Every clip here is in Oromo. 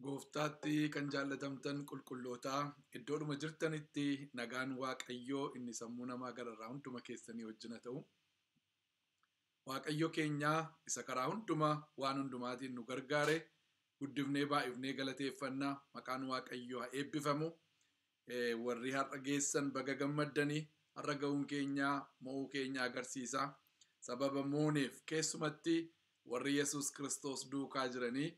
Gooftaatti kan jaallatamtan qulqullootaa iddoodhuma jirtanitti nagaan Waaqayyoo inni sammuu namaa gararraa hunduma keessanii wajjin haa ta'u. Waaqayyo keenya isa karaa hundumaa waan hundumaatiin nu gargaare guddifnee baay'ifnee galateeffanna maqaan Waaqayyoo haa eebbifamu. Warri har'a geessan baga gammaddani. Har'a ga'uun keenya mo'uu keenya agarsiisa. Sababa mooneef keessumatti warri Yesuus Kiristoos duukaa jiranii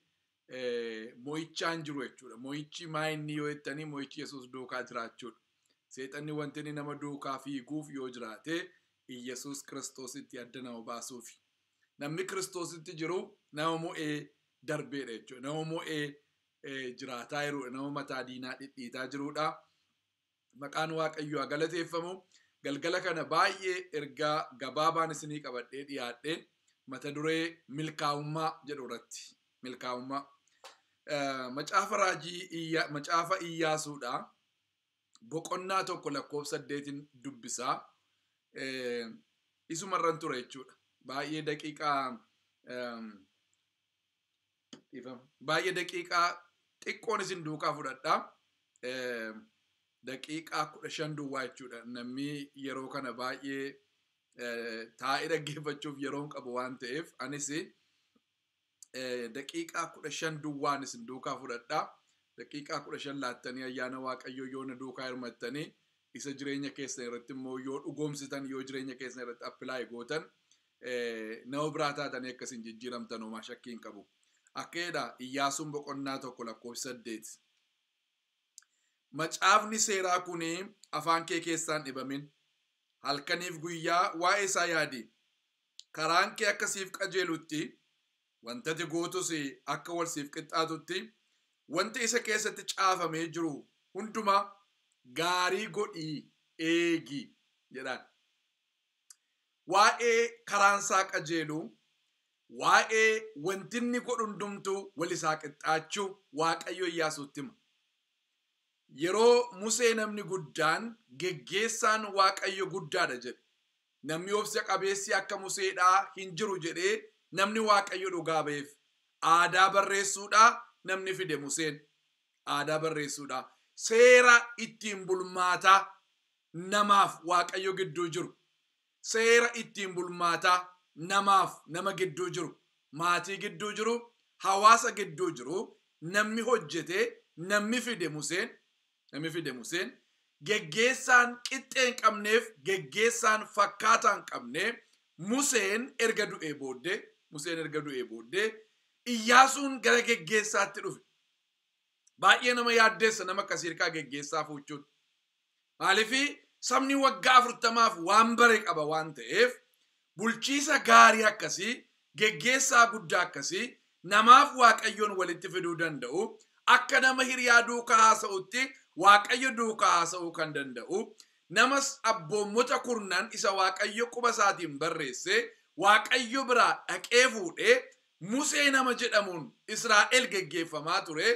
mo'ichaan jiru jechuudha. Mo'ichi maa inni yoo jettanii mo'ichi Yesuus duukaa jiraachuudha. Seexanni wanti inni nama duukaa fiiguuf yoo jiraate Iyyasuus Kiristoositti adda nama baasuufi. Namni Kiristoositti jiru nama mo'ee darbeedha jechuudha. Nama mo'ee jiraataa jiru nama mataa diinaa dhidhiitaa jirudha. Maqaan Waaqayyoo haa galateeffamu. Galgala kana baay'ee ergaa gabaabaan isinii qabadhee dhiyaadhe mata duree milkaa'ummaa jedhu irratti. Milkaa'ummaa. Macaafa raajii macaafa Iyyaasuudha. Boqonnaa tokko lakkoofsa saddeetiin dubbisaa. Isumarran ture jechuudha. Baay'ee daqiiqaa Dhiifama. Baay'ee daqiiqaa xiqqoon isin duukaa fudhadha. Eh, Daqiiqaa kudha shan duwwaa jechuudha. Namni yeroo kana baay'ee eh, taa'ee dhaggeeffachuuf yeroon qabu waan ta'eef anis eh, daqiiqaa kudha shan duwwaan isin duukaa fudhadha. Daqiiqaa kudha shan laattanii ayyaana Waaqayyoo yoo na duukaa hirmattanii isa jireenya keessan irratti immoo yoo dhugoomsitan yoo jireenya keessan irratti appilaayi gootan nama biraa taatanii akka isin jijjiiramtan homaa shakkii hin qabu. Akka jedha Iyyaasuun boqonnaa tokko lakkoofsa saddeet. Macaafni seeraa kun afaan kee keessaan dhibamin. Halkaniif guyyaa waa'ee isaa yaadi. Karaan kee akka siif qajeelutti wantati gootus akka wal siif qixxaatutti wanta isa keessatti caafamee jiru hundumaa gaarii godhii eegi jedhaan. waa'ee karaan isaa qajeeluu, waa'ee wanti inni godhu hundumtuu wal isaa qixxaachuu Waaqayyo Iyyaasuutti hima. Yeroo Musee namni guddaan geggeessaan Waaqayyo guddaadha jedhe. Namni obsa qabeessi akka Museedhaa hin jiru jedhee namni Waaqayyo dhugaa ba'eef. Aadaa barreessuudhaa namni fide Museen. Aadaa barreessuudhaa. Seera ittiin bulmaataa namaaf Waaqayyo gidduu jiru, seera ittiin bulmaataa namaaf nama gidduu jiru, maatii gidduu jiru, hawaasa gidduu jiru namni hojjetee namni fide Museen, namni fide Museen, geggeessaan qixxee hin qabneef geggeessaan fakkaataa hin qabne Museen erga du'ee booddee, Museen erga du'ee booddee Iyyaasuun gara geggeessaatti dhufe. Baay'ee nama yaaddeessa nama akkasii hirkaa geggeessaa fuuchuun. Maalifi sabni waggaa afurtamaaf waan bare qaba waan ta'eef bulchiisa gaarii akkasii geggeessaa guddaa akkasii namaaf waaqayyoon walitti fiduu danda'u akka nama hiriyaa duukaa haasa'utti waaqayyo duukaa haasa'uu kan danda'u nama abboommota kurnan isa waaqayyo quba isaatiin barreesse waaqayyo biraa dhaqee fuudhee Musee nama jedhamuun Israa'el geggeeffamaa ture,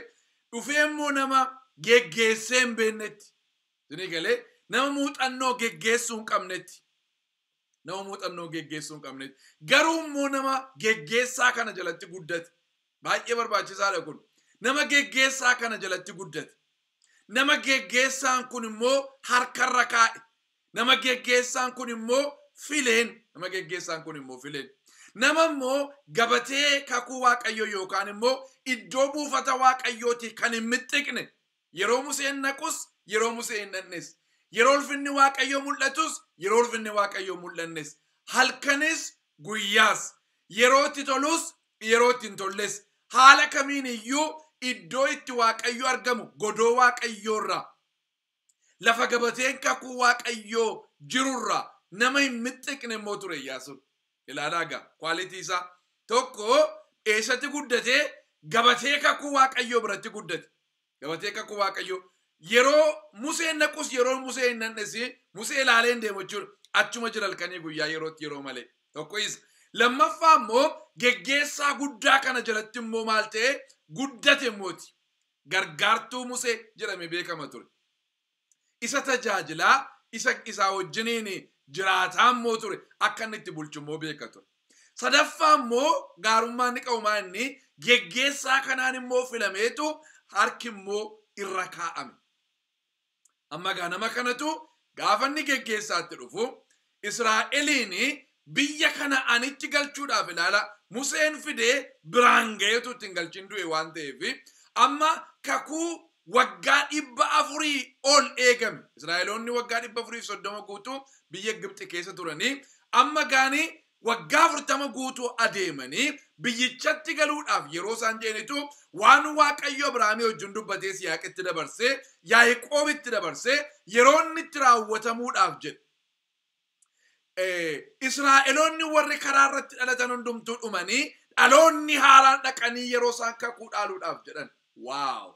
dhufee immoo nama geggeessee hin beeknetti. Isinii galee nama muuxannoo geggeessuu hin qabnetti. Nama muuxannoo geggeessuu hin qabnetti. Garuu immoo nama geggeessaa kana jalatti guddate. Baay'ee barbaachisaadha kun. Nama geggeessaa kana jalatti guddate. Nama geggeessaan kun immoo harkarra kaa'e. Nama geggeessaan kun immoo fileen, nama geggeessaan kun immoo fileen. Nama immoo gabatee kakuu Waaqayyoo yookaan immoo iddoo buufata Waaqayyootii kan hin mixxiqne, yeroo Museen naqus, yeroo Musee hin dhaqnes, yeroo ulfinni Waaqayyoo mul'atus, yeroo ulfinni Waaqayyoo hin mul'annes, halkanis guyyaas, yeroo itti tolus, yeroo itti hin tolles, haala kamiin iyyuu iddoo itti Waaqayyo argamu godoo Waaqayyoo irraa Lafa gabateen kakuu Waaqayyoo jiru irraa nama hin mixxiqne immoo ture Iyyaasuun. Ilaalaa egaa kwaalitii isaa. Tokko eessatti guddate? Gabatee kakuu Waaqayyoo biratti guddate. Gabatee kakuu Waaqayyoo yeroo Museen naqus yeroo Musee hin naqnes Musee ilaalee hin deemu jechuudha. Achuma jira halkanii guyyaa yerootti yeroo malee. Tokko isa. Lammaffaa immoo geggeessaa guddaa kana jalatti immoo maal ta'e guddate immooti. gargaartuu Musee jedhamee beekama ture. Isa tajaajilaa, isa isaa wajjiniin jiraataa immoo ture, akka inni itti bulchu immoo beeka ture. Sadaffaa immoo gaarummaa inni qabu maa inni geggeessaa kanaan immoo filameetu harki immoo irra kaa'ame. Amma egaa nama kanatu gaafa inni geggeessaatti dhufu Israa'eliin biyya Kana'aanitti galchuudhaaf ilaala Museen fidee biraan ga'eetu ittiin galchin du'e waan ta'eef amma kakuu waggaa dhibba afurii ol eegame Israa'eloonni waggaa dhibba afuriif soddoma guutuu biyya Gibxi keessa turanii amma gaanii Waggaa 40 guutuu adeemanii biyyichatti galuudhaaf yeroo isaan jedhanitu waan Waaqayyo Abrahaamii wajjin dubbatee Yisihaaqitti dabarsee, Yaaqoobitti dabarsee yeroo inni itti raawwatamuudhaaf jedhe. Eh, Israa'eloonni warri karaa irratti dhalatan hundumtuu dhumanii dhaloonni haaraan dhaqanii yeroo isaan kakuu dhaaluudhaaf jedhan. Waaw!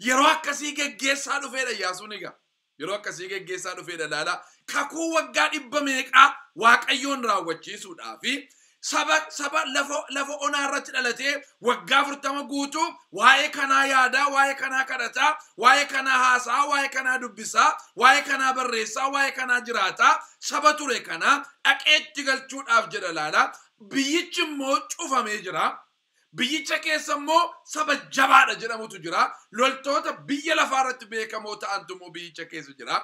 Yeroo akkasii geggeessaa dhufeedha Iyyaasuun egaa. Yeroo akkasii geggeessaa dhufeedha ilaalaa. Kakuu waggaa dhibba meeqaa Waaqayyoon raawwachiisuudhaa fi saba saba lafa lafa onaa irratti dhalatee waggaa afurtama guutuu waa'ee kanaa yaadaa, waa'ee kanaa kadhataa, waa'ee kanaa haasaa, waa'ee kanaa dubbisaa, waa'ee kanaa barreessaa, waa'ee kanaa jiraataa saba ture kanaa dhaqeetti galchuudhaaf jedha ilaalaa. Biyyichi immoo cufamee jira. Biyyicha keessa immoo saba jabaadha jedhamutu jira. Loltoota biyya lafaa irratti beekamoo ta'antu immoo biyyicha keessa jira.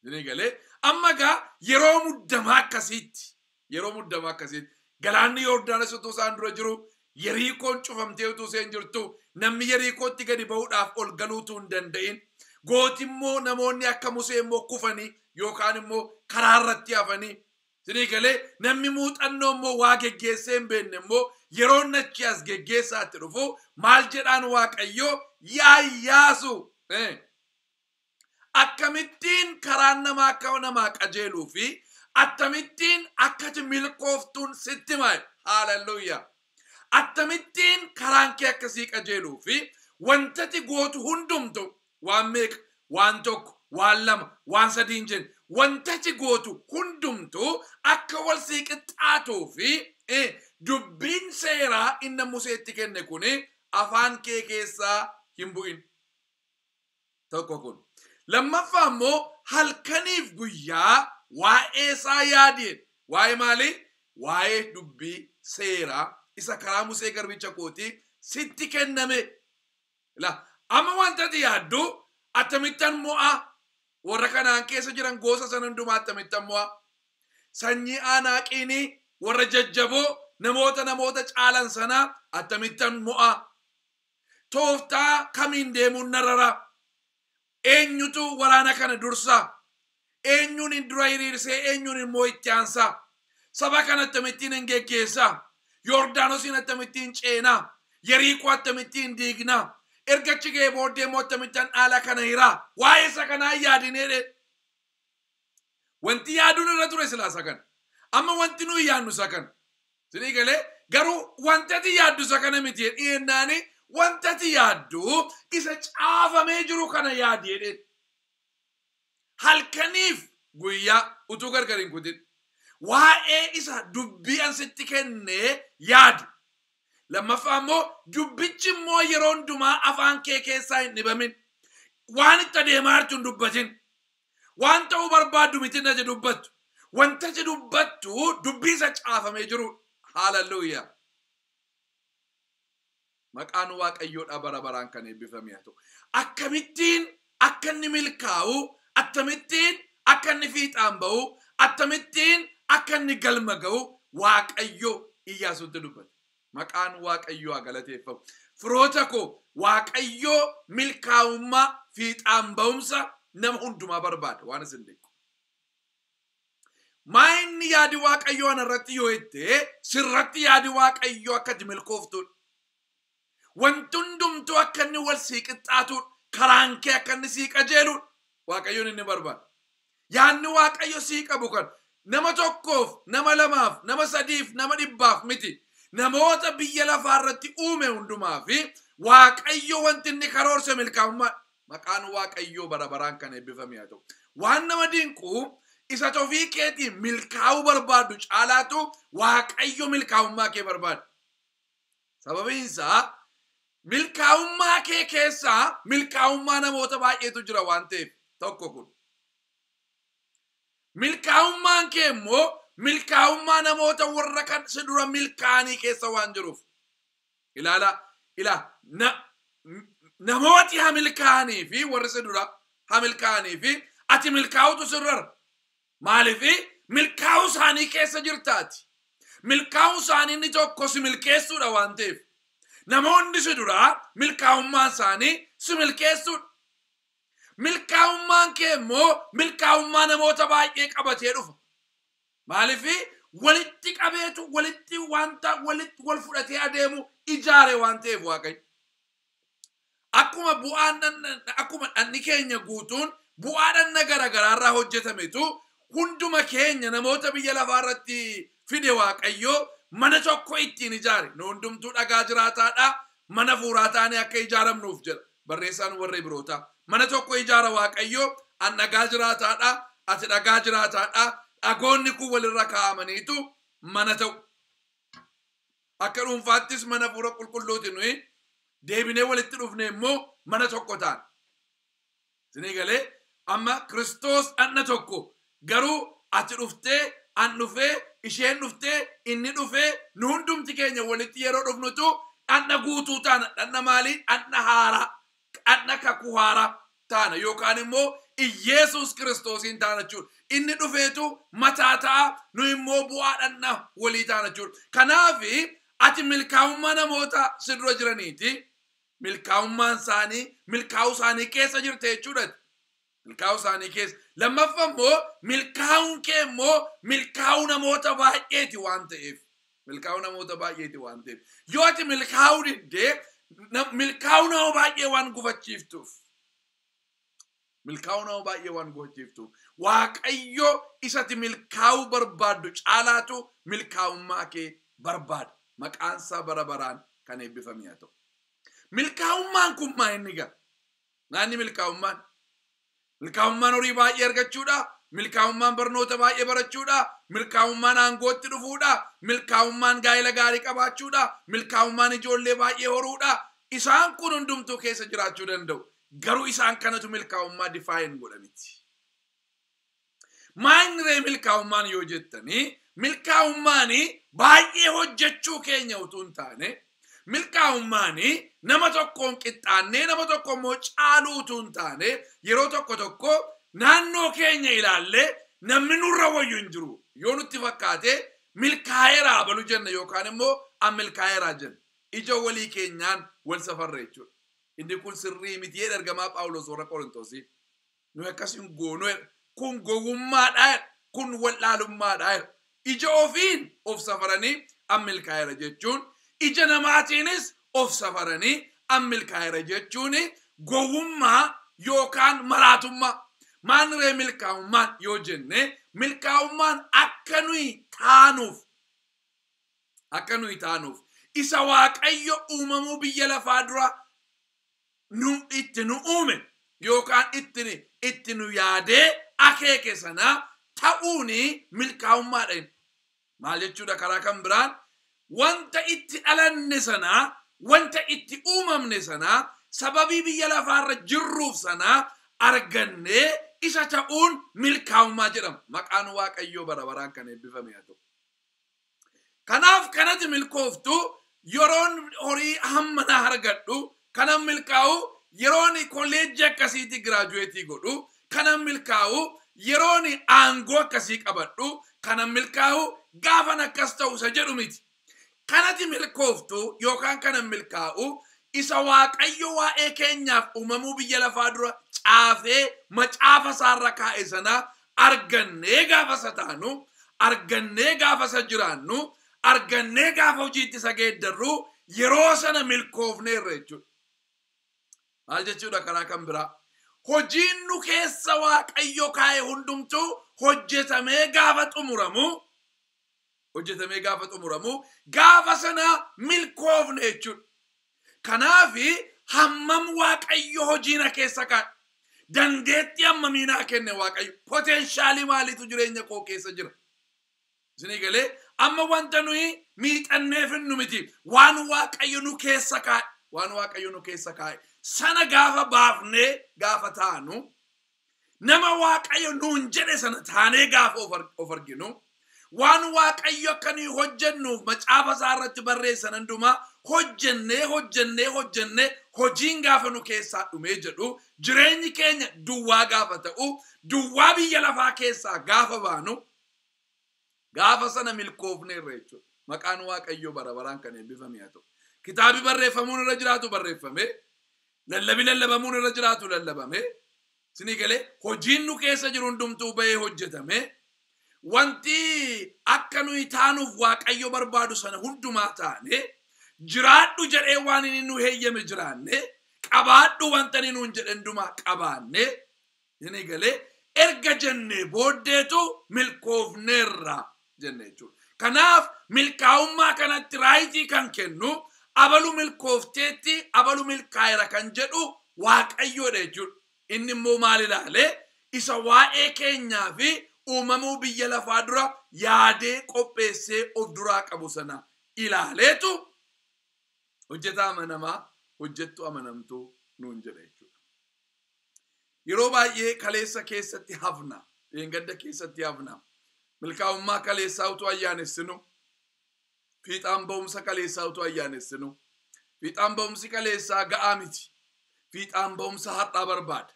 Isinii galee amma egaa yeroo muddamaa akkasiitti yeroo muddamaa akkasiitti galaanni Yoordaanos utuu isaan dura jiru Yeriikoon cufamtee utuu isheen jirtu namni Yeriikootti gadi ba'uudhaaf ol galuu utuu hin danda'in gooti immoo namoonni akka Musee immoo kufanii yookaan immoo karaa irratti hafanii Sinii galee? Namni muuxannoo immoo waa geggeessee hin beekne immoo yeroo inni achii as geggeessaatti dhufu maal jedhaan Waaqayyoo yaa Iyyaasu eh, akkamittiin karaan namaa akka namaa qajeeluu fi attamittiin akkati milkooftuun sitti himaa haaleluyyaa attamittiin karaan kee akkasii qajeeluu fi wantati gootu hundumtu Waan meeqa? Waan tokko, waan lama, waan sadii hin jenne. Wanta ati gootu hundumtuu akka wal sii qixxaatuu fi e, dubbiin seeraa inna Museetti kenne kun afaan kee keessaa hin bu'in. Tokko kun. Lammaffaa immoo halkaniif guyyaa waa'ee isaa yaadi jedhe. Waa'ee maalii? Waa'ee dubbii seeraa isa karaa Musee garbicha kootii sitti kenname Ila, amma wanta ati yaaddu, Attamittan mo'a? Warra Kana'aan keessa jiran gosa sana hundumaa attamittan mo'a? Sanyii Aanaaqiini, warra jajjaboo, namoota namoota caalan sana attamittan mo'a? Tooftaa kamiin deemuun na rara? Eenyutu waraana kana dursa? Eenyuun dura hiriirsee eenyuun immoo itti aansa? Saba kana attamittiin hin geggeessa? Yordaanosiin attamittiin ceena? Yeriikoo attamittiin diigna? Erga achi ga'ee booddee immoo attamittan dhaala kana hira? Waa'ee isa kanaa hin yaadinee ree? Wanti yaaduun irra ture silaa isa kana. Amma wanti nuyi yaadnu isa kana. Sinii galee garuu wanti ati yaaddu isa kana miti jedhee jennaani wanti ati yaaddu isa caafamee jiru kana yaadi jedheen. Halkaniif guyyaa utuu gargar hin kutin waa'ee isa dubbii an sitti kennee yaadi. Lammaffaa immoo dubbichi immoo yeroo hundumaa afaan kee keessaa hin dhibamin. Waan itti adeemaa jirtu hin dubbatin. Waan ta'uu barbaaddu miti inni ati dubbattu. Wanti ati dubbattu dubbii isa caafamee jiruudha. Haaleluyyaa! Maqaan Waaqayyoodhaa bara baraan kan eebbifame haa ta'u. Akkamittiin akka inni milkaa'u, akkamittiin akka inni fiixaan ba'u, akkamittiin akka inni galma ga'u Waaqayyo Iyyaasuutti dubbate. Maqaan Waaqayyoo haa galateeffamu. Firoota koo Waaqayyoo milkaa'ummaa fiixaan ba'umsa nama hundumaa barbaada waan isin beeku. Maa inni yaadi Waaqayyoo ana irratti yoo jette sirratti yaadi Waaqayyoo akka ati milkooftuudha. Wanti hundumtuu akka inni wal sii qixxaatuudha. Karaan kee akka inni sii qajeeluudha. Waaqayyoon inni barbaada. Yaadni Waaqayyo sii qabu kan nama tokkoof, nama lamaaf, nama sadiif, nama dhibbaaf miti. Namoota biyya lafaa irratti uume hundumaa fi Waaqayyo wanti inni karoorse milkaa'ummaadha. Maqaan Waaqayyoo bara baraan kan eebbifame haa ta'u. Waan nama dinqu isa tofii keetiin milkaa'uu barbaaddu caalaatu Waaqayyo milkaa'ummaa kee barbaada. Sababiin isaa milkaa'ummaa kee keessa milkaa'ummaa namoota baay'eetu jira waan ta'eef tokko kun. Milkaa'ummaan kee immoo milkaa'ummaa namoota warra kan si dura milkaa'anii keessa waan jiruuf. Ilaala ila na, namooti ha milkaa'anii fi warri si dura ha milkaa'anii fi ati milkaa'utu sirrara. Maaliif? Milkaa'uu isaanii keessa jirtaati. Milkaa'uun isaanii inni tokko si milkeessuudha waan ta'eef. Namoonni si duraa milkaa'ummaan isaanii si milkeessuudha. Milkaa'ummaan kee immoo milkaa'ummaa namoota baay'ee qabatee dhufa. Maaliif? Walitti qabeetu walitti wanta walitti wal fudhatee adeemu ijaare waan ta'eef Waaqayyo. Akkuma bu'aan dhan- akkuma dhanni keenya guutuun bu'aa dhanna garagaraa irraa hojjetametu hunduma keenya namoota biyya lafaa irratti fide Waaqayyo mana tokko ittiin ijaare. Nu hundumtuu dhagaa jiraataadha. Mana fuuraa taanee akka ijaaramnuuf jedha barreessaan warra Ibirootaa. Mana tokko ijaara Waaqayyo an dhagaa jiraataadha, ati dhagaa jiraataadha. Dhagoonni kun walirra kaa'amaniitu mana ta'u. Akka dhuunfaattis mana Hafuura Qulqulluuti nuyi deebinee walitti dhufne immoo mana tokko taana. Isinii galee amma Kiristoos dhanna tokko garuu ati dhuftee an dhufee isheen dhuftee inni dhufee nu hundumti keenya walitti yeroo dhufnutu dhanna guutuu taana. Dhanna maalii? Dhanna haaraa. Kadha kakuu haaraa taana yookaan immoo Iyyeesuus Kiristoosiin taana jechuudha. Inni dhufeetu mataa ta'a, nu immoo bu'aa dhandha walii taana jechuudha. Kanaaf ati milkaa'ummaa namoota si dura jiraniiti, milkaa'ummaan isaanii, milkaa'uu isaanii keessa jirta jechuudha. Milkaa'uu isaanii keessa. Lammaffa immoo milkaa'uun kee immoo milkaa'uu namoota baay'eeti waan ta'eef. Milkaa'uu namoota baay'eeti waan ta'eef. Yoo ati milkaa'uu diddee na- milkaa'uu nama baay'ee waan gufachiiftuuf. Milkaa'uu nama baay'ee waan gufachiiftuuf. Waaqayyo isati milkaa'uu barbaaddu caalaatu milkaa'ummaa kee barbaada. Maqaan isaa bara baraan kan eebbifame haa ta'u. Milkaa'ummaan kun maa inni gaa? Nyaanni milkaa'ummaan. Milkaa'ummaan horii baay'ee argachuudha. Milkaa'ummaan barnoota baay'ee barachuudha. Milkaa'ummaan aangootti dhufuudha. Milkaa'ummaan gaa'ela gaarii qabaachuudha. Milkaa'ummaan ijoollee baay'ee horuudha. Isaan kun hundumtuu keessa jiraachuu danda'u. Garuu isaan kanatu milkaa'ummaa define godha miti. Maayinni ree milkaa'ummaan yoo jettanii milkaa'ummaan baay'ee hojjechuu keenya utuu hin taane milkaa'ummaan nama tokkoon qixxaannee nama tokko immoo caaluu utuu hin taane yeroo tokko tokko naannoo keenya ilaallee namni nurra wayyu hin jiru yoo nutti fakkaate milkaa'eera abalu jenna yookaan immoo an milkaa'eera jenna ija walii keenyaan wal safarra jechuudha. Inni kun sirrii miti jedha ergamaa Phaawulos warra Qorontoosiif. Nuyi akkas hin goonu jedha. Kun gowwummaadha jedha. Kun wallaalummaadha jedha. Ija ofiin of safaranii an milkaa'eera jechuun ija namaatiinis of safaranii an milkaa'eera jechuun gowwummaa yookaan maraatummaa. Maal ree milkaa'ummaan yoo jenne milkaa'ummaan akka nuyi taanuuf akka nuyi taanuuf isa waaqayyo uumamuu biyya lafaa dura nu itti nu uume yookaan itti itti nu yaadee akeeke sana ta'uun milkaa'ummaadha inni. Maal jechuudha karaa kan biraan wanta itti dhalanne sana wanta itti uumamne sana sababii biyya lafaarra jirruuf sana argannee isa ta'uun milkaa'ummaa jedhama. Maqaan Waaqayyoo bara baraan kan eebbifame haa ta'u. Kanaaf kanati milkooftu yeroon horii hamma naa argadhu kanan milkaa'u yeroon kolleejjii akkasiitii giraajuweetii godhu kanan milkaa'u yeroon aangoo akkasii qabadhu kanan milkaa'u gaafan akkas ta'u isa jedhu miti. Kanati milkooftu yookaan kanan milkaa'u isa Waaqayyo waa'ee keenyaaf uumamuu biyya lafaa dura caafee macaafa isaarra kaa'e sana argannee gaafa isa taanu, argannee gaafa isa jiraannu, argannee gaafa hojiitti isa geeddarru yeroo sana milkoofneerra jechuudha. Maal jechuudha karaa kan biraa? Hojiin nu keessa Waaqayyo kaa'e hundumtuu hojjetamee gaafa xumuramu hojjetamee gaafa xumuramu gaafa sana milkoofne jechuudha. Kanaaf hammam waaqayyo hojiina keessa kaa'e dandeettii hammamii naa kenne waaqayyo poteenshaalii maaliitu jireenya koo keessa jira. Isinii galee amma wanta nuyi miixannee finnu miti waan waaqayyo nu keessa kaa'e waan waaqayyo nu keessa kaa'e sana gaafa baafnee gaafa taanu Nama Waaqayyo nuun jedhe sana taanee gaafa of ar- of arginu, waan Waaqayyo akka nuyi hojjennuuf macaafa isaa irratti barreessan hundumaa hojjennee hojjennee hojjennee hojiin gaafa nu keessaa dhumee jedhu jireenyi keenya duwwaa gaafa ta'u, duwwaa biyya lafaa keessaa gaafa baanu, Gaafa sana milkoofneerra jechuudha. Maqaan Waaqayyoo bara baraan kan eebbifame haa ta'u. Kitaabi barreeffamuun irra jiraatu barreeffame. Lallabi lallabamuun irra jiraatu lallabame. Sinii galee hojiin nu keessa jiru hundumtuu bahee hojjetame. Wanti akka nuyi taanuuf Waaqayyo barbaadu sana hundumaa taane. Jiraadhu jedhee waan inni nu heeyyame jiraanne. Qabaadhu wanta inni nuun jedhe hundumaa qabaanne. Jennee galee erga jennee booddeetu milkoofneerra jenna jechuudha. Kanaaf milkaa'ummaa kanatti raayitii kan kennu abalu milkoofteetti abalu milkaa'eera kan jedhu waaqayyoodha jechuudha. Inni immoo maal ilaale isa waa'ee keenyaa fi uumamuu biyya lafaa dura yaadee qopheessee of duraa qabu sana ilaaleetu hojjetaa amanamaa hojjettuu amanamtuu nuun jedha jechuudha. Yeroo baay'ee kaleessa keessatti hafna, dheengadda keessatti hafna. Milkaa'ummaa kaleessaa utuu ayyaanessinu, fiixaan ba'umsa kaleessaa utuu ayyaanessinu, fiixaan ba'umsi kaleessaa ga'aa miti. Fiixaan ba'umsa har'aa barbaada.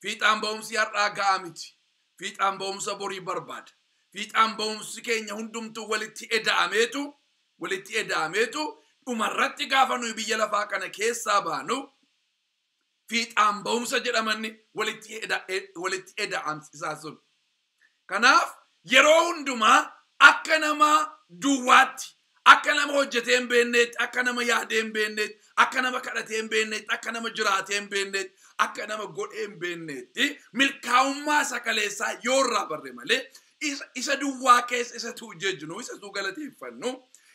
Fiixaan ba'umsi har'aa ga'aa miti. Fiixaan ba'umsa borii barbaada. Fiixaan ba'umsi keenya hundumtuu walitti eda'ameetu walitti eda'ameetu dhumarratti gaafa nuyi biyya lafaa kana keessaa baanu fiixaan ba'umsa jedhamanni walitti eda- e- walitti eda'amsisaa sun. Kanaaf yeroo hundumaa akka nama duwwaatti, akka nama hojjetee hin beekneetti, akka nama yaadee hin beekneetti, akka nama kadhatee hin beekneetti, akka nama jiraatee hin beekneetti, akka nama godhee hin beekneetti milkaa'ummaa isa kaleessaa yoo irraa barre malee Isa, isa duwwaa keessa isa tuu jejnu, isa tuu galateeffannu,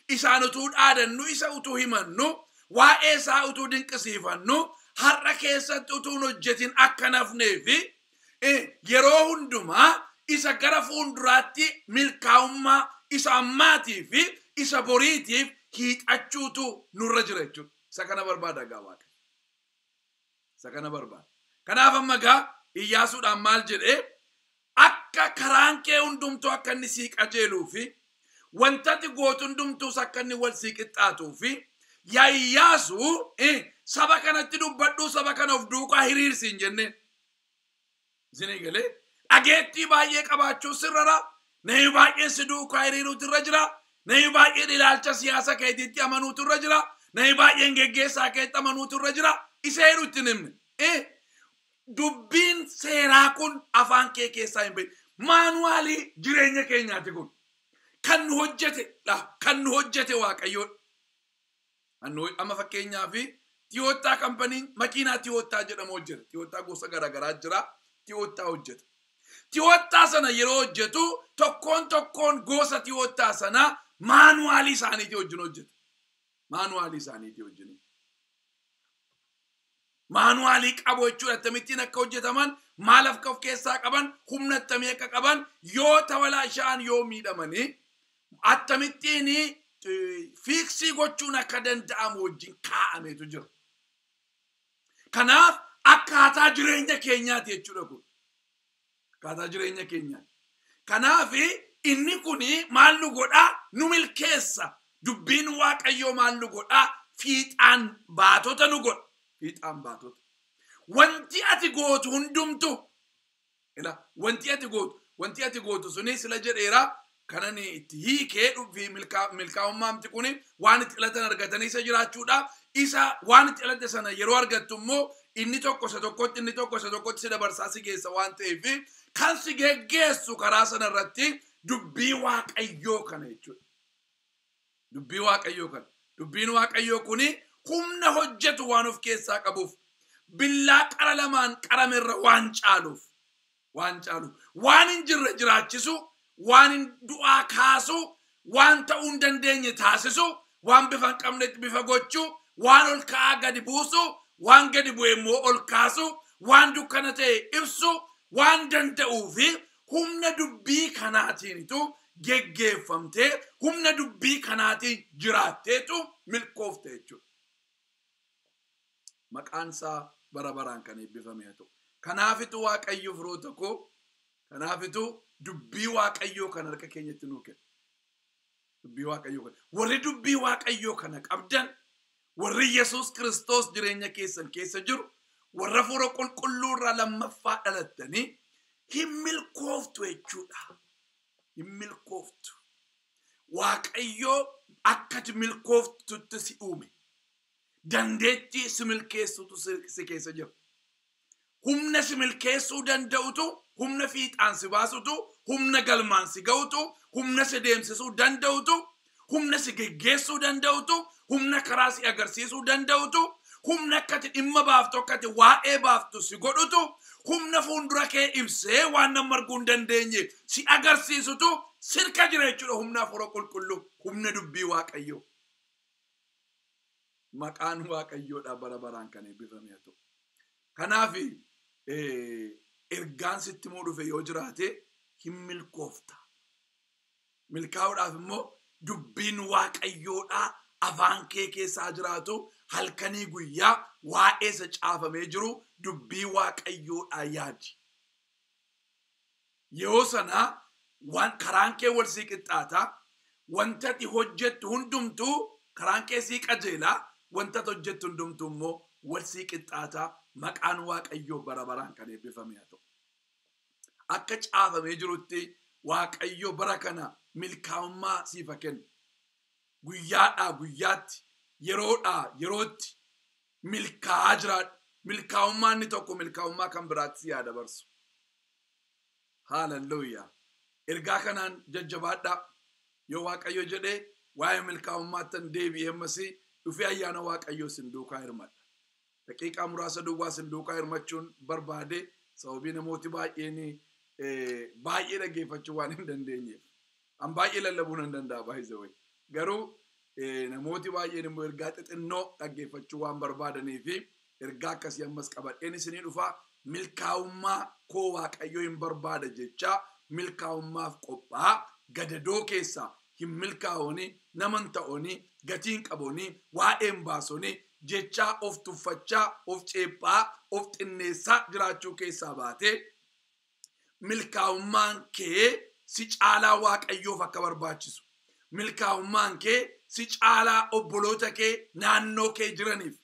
isaan utuu dhaadannu, isa utuu himannu, waa'ee isaa utuu dinqisiifannu, har'a keessatti utuu hin hojjetin akka hin hafnee fi eh, yeroo hundumaa isa gara fuulduraatti milkaa'ummaa isa ammaatii fi isa boriitiif hiixachuutu nurra jira jechuudha. Isa kana barbaada egaa Waaqayyo. Isa kana barbaada. Kanaaf amma egaa Iyyaasuudhaan maal jedhee akka karaan kee hundumtuu akka inni sii qajeeluu fi wantati gootu hundumtuus akka inni wal sii qixxaatuu fi yaa Iyyaasuu saba kanatti dubbadhuu saba kana of duukaa hiriirsi hin jenneen. Isin eegalee dhageettii baay'ee qabaachuun sirrara namni baay'een si duukaa hiriiruutu irra jira namni baay'een ilaalcha siyaasa keetiitti amanuutu irra jira namni baay'een geggeessaa keetti amanuutu irra jira isa heeru itti hin himne Eh, dubbiin seeraa kun afaan kee keessaa hin bahin maanuwaalii jireenya keenyaati kun kan nu hojjete dha kan nu hojjete waaqayyoodha Hanoi amma fakkeenyaaf Tiyoottaa kampaniin makiinaa Tiyoottaa jedhamu hojjeta. Tiyoottaa gosa garaagaraa jira. Tiyoottaa hojjeta. Tiyoottaa sana yeroo hojjetu tokkoon tokkoon gosa Tiyoottaa sana maanuwaalii isaaniitii wajjin hojjeta. Maanuwaalii isaaniitii wajjin. maanuwaalii qabu jechuudha. Akkamittiin akka hojjetaman, maal akka of keessaa qaban, humna attamii akka qaban, yoo tawalaashaan yoo miidhamanii akkamittiin fiiksii gochuun akka danda'amu wajjin kaa'ameetu jira. Kanaaf akkaataa jireenya keenyaati jechuudha kun. akkaataa jireenya keenyaa. Kanaaf inni kun maal nu godha? Nu milkeessa. Dubbiin Waaqayyoo maal nu godha? Fiixaan baatota nu godha. Fiixaan baatota. Wanti ati gootu hundumtu ila wanti ati gootu wanti ati gootu suni sila jedheera kanani itti hiikee dhufii milkaa'ummaamti kun waan itti dhalatan argatanii isa jiraachuudha. Isa waan itti dhalatte sana yeroo argattu immoo inni tokko isa tokkotti inni tokko isa tokkotti si dabarsaa si geessa waan ta'eef kan si geggeessu karaa sana irratti dubbii waaqayyoo kana jechuudha. Dubbii waaqayyoo kana. Dubbiin waaqayyoo kun humna hojjetu waan of keessaa qabuuf billaa qara lamaan qarame irra waan caaluuf waan caalu waan hin jirre jiraachisu waan hin du'aa kaasu waan ta'uu hin dandeenye taasisu waan bifa hin qabnetti bifa gochu waan ol ka'aa gadi buusu waan gadi bu'e immoo ol kaasu waan dukkana ta'e ibsu waan danda'uu fi humna dubbii kanaatiinitu geggeeffamtee humna dubbii kanaatiin jiraatteetu milkoofte jechuudha. Maqaan isaa bara baraan kan eebbifame haa ta'u. Kanaafitu Waaqayyo firoota koo, kanaafitu dubbii Waaqayyoo kan harka keenyatti nuu kenna. Dubbii Waaqayyoo kana. Warri dubbii Waaqayyoo kana qabdan, warri Yesuus Kiristoos jireenya keessan keessa jiru, warra fuura qulqulluu irraa lammaffaa dhalattanii hin milkooftu jechuudha. Hin milkooftu. Waaqayyoo akkati milkooftutti si uume. Dandeettii si milkeessutu si keessa jira. Humna si milkeessuu danda'utu, humna fiixaan si baasutu, humna galmaan si ga'utu, humna si deemsisuu danda'utu, humna si geggeessuu danda'utu, humna karaa si agarsiisuu danda'utu, humna akka ati dhimma baaftu, akka ati waa'ee baaftu si godhutu, humna fuuldura kee ibsee waan namni arguu hin dandeenye si agarsiisutu sirka jira jechuudha humna hafuura qulqulluu, humna dubbii Waaqayyoo. Maqaan Waaqayyoodhaa bara baraan kan eebbifame haa ta'u. Kanaaf ergaan sitti immoo dhufe yoo jiraate hin milkoofta. Milkaa'uudhaaf immoo dubbiin Waaqayyoodhaa afaan kee keessa haa jiraatu halkanii guyyaa waa'ee isa caafamee jiru dubbii Waaqayyoodhaa yaadi. Yeroo sana waan karaan kee wal sii qixxaata, wanti ati hojjettu hundumtuu karaan kee sii qajeela, wanti ati hojjettu hundumtuu immoo wal sii qixxaata. Maqaan Waaqayyoo bara baraan kan eebbifame haa ta'u. Akka caafamee jirutti Waaqayyo bara kana milkaa'ummaa siif haa kennu. Guyyaadhaa guyyaatti, yeroodhaa yerootti Milkaa'aa jiraadhu. Milkaa'ummaan inni tokko milkaa'ummaa kan biraatti si haa dabarsu. Haalelluuyaa. Ergaa kanaan jajjabaadhaa. Yoo Waaqayyo jedhee waa'ee milkaa'ummaattan deebi'ee ammasii dhufee ayyaana Waaqayyoo isin duukaa hirmadha. Daqiiqaa muraasa duwwaa isin duukaa hirmachuun barbaade sababii namooti baay'een eh, baay'ee dhaggeeffachuu waan hin dandeenyeef. An baay'ee lallabuu nan danda'a by the way. Garuu eh, namooti baay'een immoo ergaa xixinnoo dhaggeeffachuu waan barbaadanii fi ergaa akkasii ammas qabadheen isinii dhufa milkaa'ummaa koo waaqayyo hin barbaada jechaa milkaa'ummaaf qophaa gadadoo keessaa hin milkaa'ooni naman ta'ooni gatiin qabooni waa'een baasooni jechaa of tuffachaa of ceephaa of xinneessaa jiraachuu keessaa baatee milkaa'ummaan kee si caalaa waaqayyoof akka barbaachisu milkaa'ummaan kee si caalaa obboloota kee naannoo kee jiraniif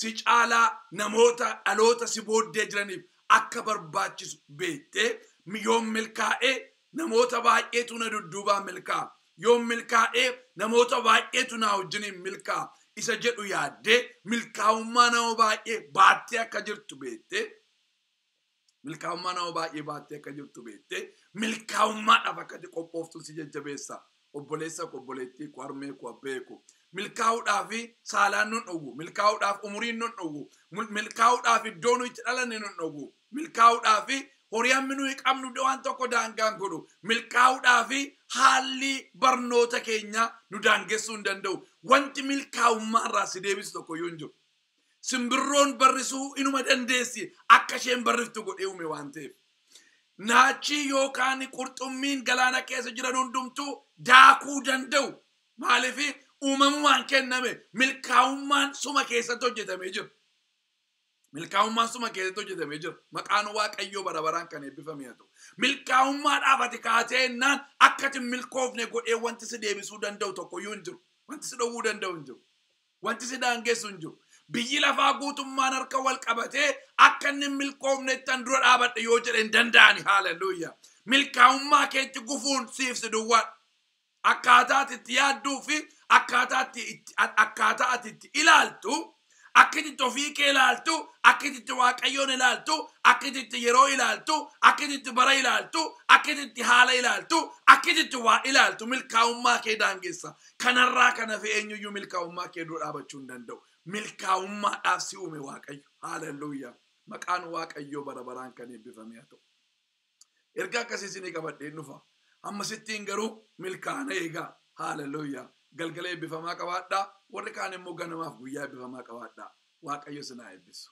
si caalaa namoota dhaloota si booddee jiraniif akka barbaachisu beektee yoon milkaa'ee namoota baay'eetu na dudduubaa milkaa'a yoon milkaa'ee namoota baay'eetu naa wajjiniin milkaa'a isa jedhu yaaddee milkaa'ummaa nama baay'ee baattee akka jirtu beektee Milkaa'ummaa nama baay'ee baattee akka jirtu beektee milkaa'ummaadhaaf akka itti qophooftu si jajjabeessa. Obboleessa koo, obboleettii koo, harmee koo, abbee koo. Milkaa'uudhaaf saalaan nun dhowwu. Milkaa'uudhaaf umuriin nun dhowwu. Mul- Milkaa'uudhaaf iddoo nu itti dhalanne nun dhowwu. Milkaa'uudhaaf horii hammi nuyi qabnu waan tokko daangaan godhu. Milkaa'uudhaaf haalli barnoota keenyaa nu daangessuu hin danda'u. Wanti milkaa'ummaa irraa si deebisu tokko iyyuu hin jiru. Simbirroon barrisuu inuma dandeessi akka isheen barriftu godhee uume waan ta'eef. Naachii yookaan qurxummiin galaana keessa jiran hundumtuu daakuu danda'u. Maaliif uumamumaan kenname milkaa'ummaan suma keessatti hojjetamee jira. Milkaa'ummaan suma keessatti hojjetamee jira. Maqaan Waaqayyoo bara baraan kan eebbifame haa ta'u. Milkaa'ummaadhaaf ati kaatee innaan akka ati hin milkoofne godhee wanti si deebisuu danda'u tokkoyyuu hin jiru. Wanti si dhowwuu danda'u hin jiru. Wanti si daangessu hin jiru. Biyyi lafaa guutummaan harka wal qabatee akka inni hin milkoofnettan dura dhaabadha yoo jedhe hin danda'ani. Haaleluyyaa. Milkaa'ummaa keetti gufuun siif si duwwaadha. Akkaataa ati itti yaadduu fi akkaataa ati itti- a- akkaataa ati itti ilaaltu, akka ati itti ofii kee ilaaltu, akka ati itti Waaqayyoon ilaaltu, akka ati itti yeroo ilaaltu, akka ati itti bara ilaaltu, akka ati itti haala ilaaltu, akka ati itti waa ilaaltu milkaa'ummaa kee daangessa. Kanarraa kan hafe eenyuyyuu milkaa'ummaa kee dura dhaabachuu hin danda'u. Milkaa'ummaadhaaf si uume Waaqayyo. Haaleluyyaa! Maqaan Waaqayyoo bara baraan kan eebbifame haa ta'u. Ergaa akkasii isinii qabadheen dhufa. Hammasittiin garuu milkaa'ina eegaa. Haaleluyyaa! Galgala eebbifamaa qabaadhaa. Warri kaan immoo ganamaaf guyyaa eebbifamaa qabaadhaa. Waaqayyo isin haa eebbisu.